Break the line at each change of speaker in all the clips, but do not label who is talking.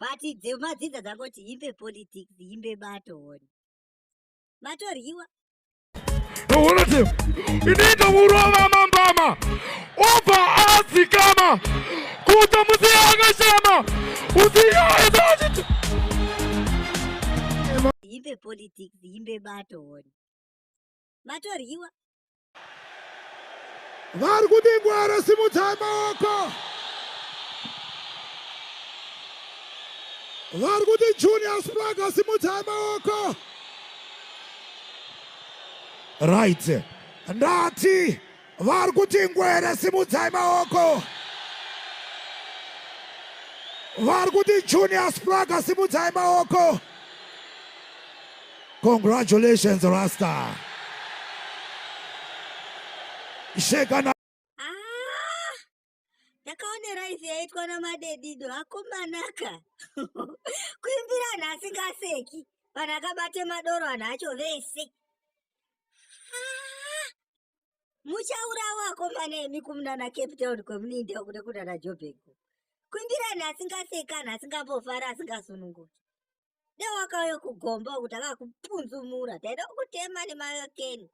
but dzemadzidza dzangoti imbe politics imbe bato one matoryiwa
unoti inoita kurova mambama obva adzikama kuta musi akashama usiyaesaachiti
imbe politics imbe bato one matoryiwa
vari kudingwara simudzai maoko vari kuti junior spraga simudzai maoko right ndati Vari kuti ngwere simudzai maoko. Vari kuti Junior Spraga simudzai maoko. Congratulations Rasta. Shekana
ndakaonera ife yaitwa namadedido akomanaka kuimbira anhu asingaseki vanhu akabate madoro anhu acho vese ah, muchaurawo akomana emi kumunana cape town kwemunoinda kuda kunana jobheko kuimbira anhu asingaseki anhu asingambofara asingasununguki dai wakauya kugomba kuti akakupunzumura taida kukutema nemayokeni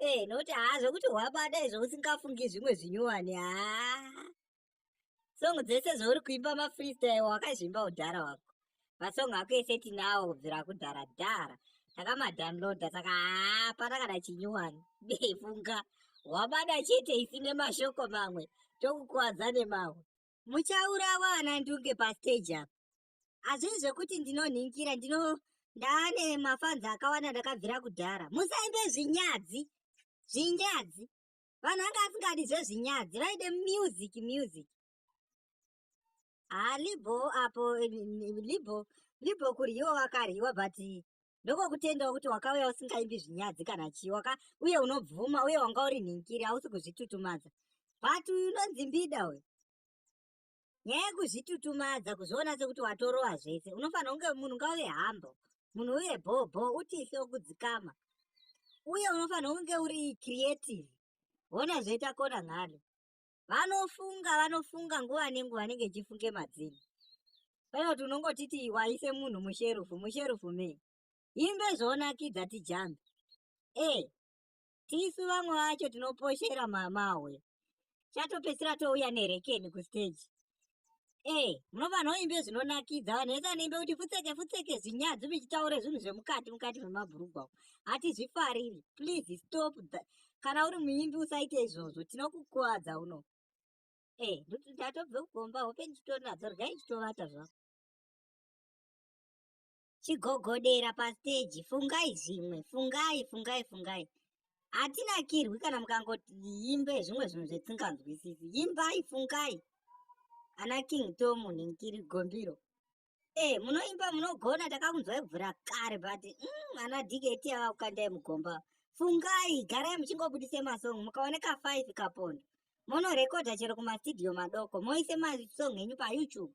ee eh, nokuti haa zvokuti hwabada izvo usingafungi zvimwe zvinyowani haa songo dzese zvauri kuimba mafreestyle wakazvimba udhara wako masong ako ese tinawo kubvira kudhara dhara takamadownloada saka haa patakada chinyuwani befunga wabada chete isi nemashoko mamwe tokukuwadza nemamwe muchaurawa ana ndunge pasteji apa hazvii zvekuti ndinonhinkira ndino ndaane mafanzi akawanda ndakabvira kudhara musaimbe zvinyadzi zvinyadzi vanhu anga asingadi zvezvinyadzi vaide music music haa libho apo libho libho kuryiwa wakaryiwa but ndokokutendawo kuti wakauya usingaimbi zvinyadzi kana chii waka uye unobvuma uye wanga uri nhinkiri hausi kuzvitutumadza but uyu unonzi mbida uyu nyaya yekuzvitutumadza kuzviona sekuti watorowa zvese unofanira kunge munhu ngauve hambo munhu uye bhobho utise wokudzikama uye unofanira kunge uri creative hona zvoita kona ngalo vanofunga vanofunga nguva nenguva anenge echifunge madzini pane kuti unongotiti waise munhu musherufu musherufu me imbe zvoonakidza tijambe e eh, tisu vamwe vacho tinoposhera mamawe chatopedzisira touya nerekeni kusteji Eh, munova vanhu vaimbe zvinonakidza vanhu vese vanoimbe kuti futseke futseke zvinyadzi muchitaure zvinhu zvemukati mukati memabhurugwa uko hatizvifariri please stop that kana uri muimbi usaite izvozvo tinokukuvadza uno eh nduti ndatobve kugomba hope ndichitonadzo rgai chitovata zvako chigogodera pastage fungai zvimwe fungai fungai fungai hatinakirwi kana mukangoti imbe zvimwe zvinhu zvetinganzwisisi imbai fungai ana king tomu ninkiri gombiro e eh, munoimba munogona takakunzwai kuvhura kare but mm, ana dkt ava kukandai mugomba fungai garai muchingobudise masong mukaoneka five kapondo monorekodha chero kumastudio madoko moise masong enyu payoutube